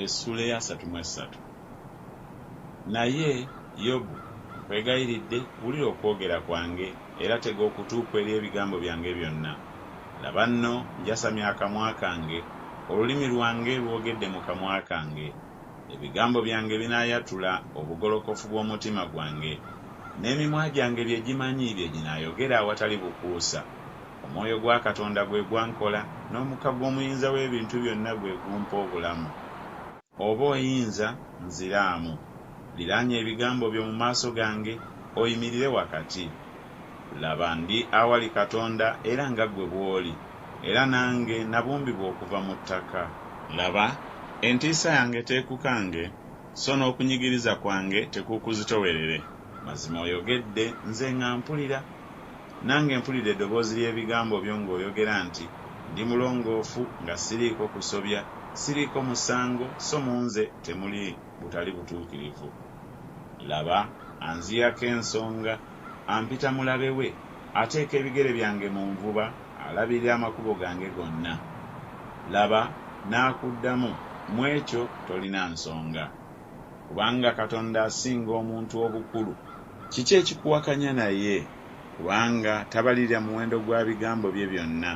Essula eya satu mu essatu. Naye, Yobu, nkwegayiridde, wulira okwogera kwange, era tega okutu kwo eri ebigambo byange byonna. Laba nno, njasamya akamwa kange, olulimi lwange lwogedde mu kamwa kange. Ebigambo byange binaayatula obugolokofu bw'omutima gwange, n'emimwa gyange bye gimanyi bye ginaayogera awatali bukuusa. Omwoyo gwa Katonda gwe gwankola, n'omukka gw'Omuyinza w'Ebintu Byonna gwe gumpa obulamu. Oba oyinza, nziraamu. Liraanya ebigambo byo mu maaso gange, oyimirire wakati. Laba, ndi awali Katonda era nga ggwe bw'oli, era nange nabumbibwa okuva mu ttaka. Laba, entiisa yange teekukange, so n'okunyigiriza kwange tekuukuzitowerere. Mazima oyogedde, nze nga mpulira. Nange mpulira edoboozi ly'ebigambo byo ng'oyogera nti, Ndi mulongoofu, nga siriiko kusobya, siriiko musango, so mu nze temuli butali butuukirivu. Laba, anziyako ensonga, ampita mulabe we, ateeka ebigere byange mu nvuba, alabirira amakubo gange gonna. Laba, n'akuddamu, Mu ekyo tolina nsonga. Kubanga Katonda asinga omuntu obukulu. Kiki ekikuwakanya naye? Kubanga tabalirira muwendo gwa bigambo bye byonna.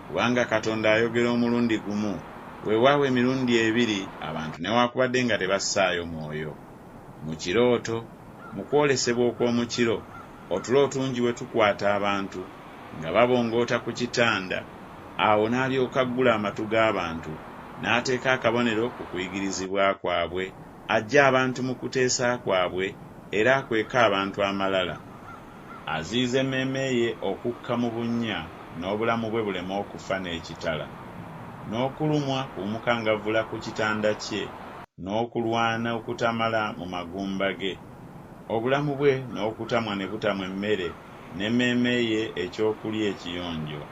Kubanga Katonda ayogera omulundi gumu, weewaawo emirundi ebiri abantu newaakubadde nga tebassaayo mwoyo. Mu kirooto, mu kwolesebwa okw'omu kiro, Otulo otungi we tukwata abantu nga babongoota ku kitanda, awo n'alyoka aggula amatu g'abantu n'ateeka akabonero ku kuyigirizibwa kwabwe, aggye abantu mu kuteesa kwabwe, era akweka abantu amalala. Aziyiza emmeeme ye okukka mu bunnya n'obulamu bwe buleme okufa n'ekitala, n'okulumwa ku bumukangavvula ku kitanda kye, n'okulwana okutamala mu magumba ge. Obulamu bwe n'okutamwa ne butamwa emmere, n'emmeeme ye eky'okulya ekiyonjo.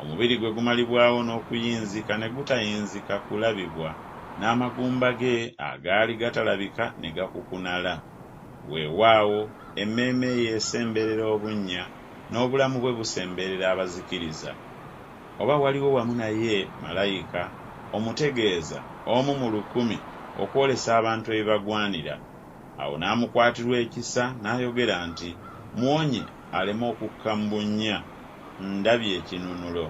Omubiri gwe gumalibwawo n'okuyinzika ne gutayinzika kulabibwa, n'amagumba ge agaali gatalabika ne gakukunala. Weewaawo, emmeeme ye esemberera obunnya, n'obulamu bwe busemberera abazikiriza. Oba waliwo wamu naye malayika, omutegeeza, omu mu lukumi, okwolesa abantu ebibagwanira, Awo n'amukwatirwa ekisa n'ayogera nti, Muwonye aleme okukka mu bunnya, ndabye ekinunulo.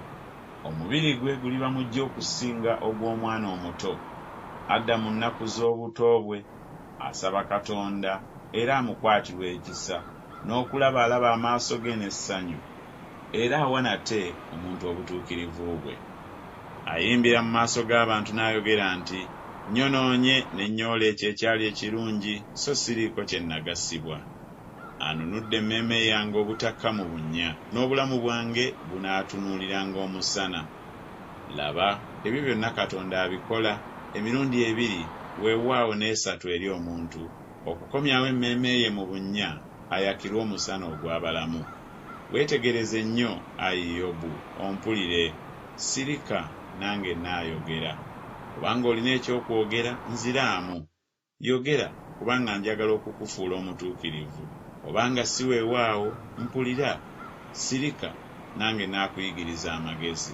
Omubiri gwe guliba muggya okusinga ogw'omwana omuto. Adda mu nnaku z'obuto bwe, asaba Katonda era amukwatirwa ekisa, n'okulaba alaba amaaso ge n'essanyu. Era awa nate omuntu obutuukirivu bwe. Ayimbira mu maaso g'abantu n'ayogera nti, Nnyonoonye ne nnyoola ekyo ekyali ekirungi, so siriiko kye nnagasibwa. Anunudde emmeeme yange obutakka mu bunnya, n'obulamu bwange bunaatunuuliranga omusana. Laba, ebyo byonna Katonda abikola, emirundi ebiri, weewaawo n'esatu eri omuntu, okukomyawo emmeeme ye mu bunnya ayakirwe omusana ogw'abalamu. Weetegereze nnyo, ayi Yobu, ompulire, sirika, nange nnaayogera. Obanga olina eky'okwogera, nziraamu. Yogera, kubanga njagala okukufuula omutuukirivu. Obanga si weewaawo, mpulira, sirika, nange nnaakuyigiriza amagezi.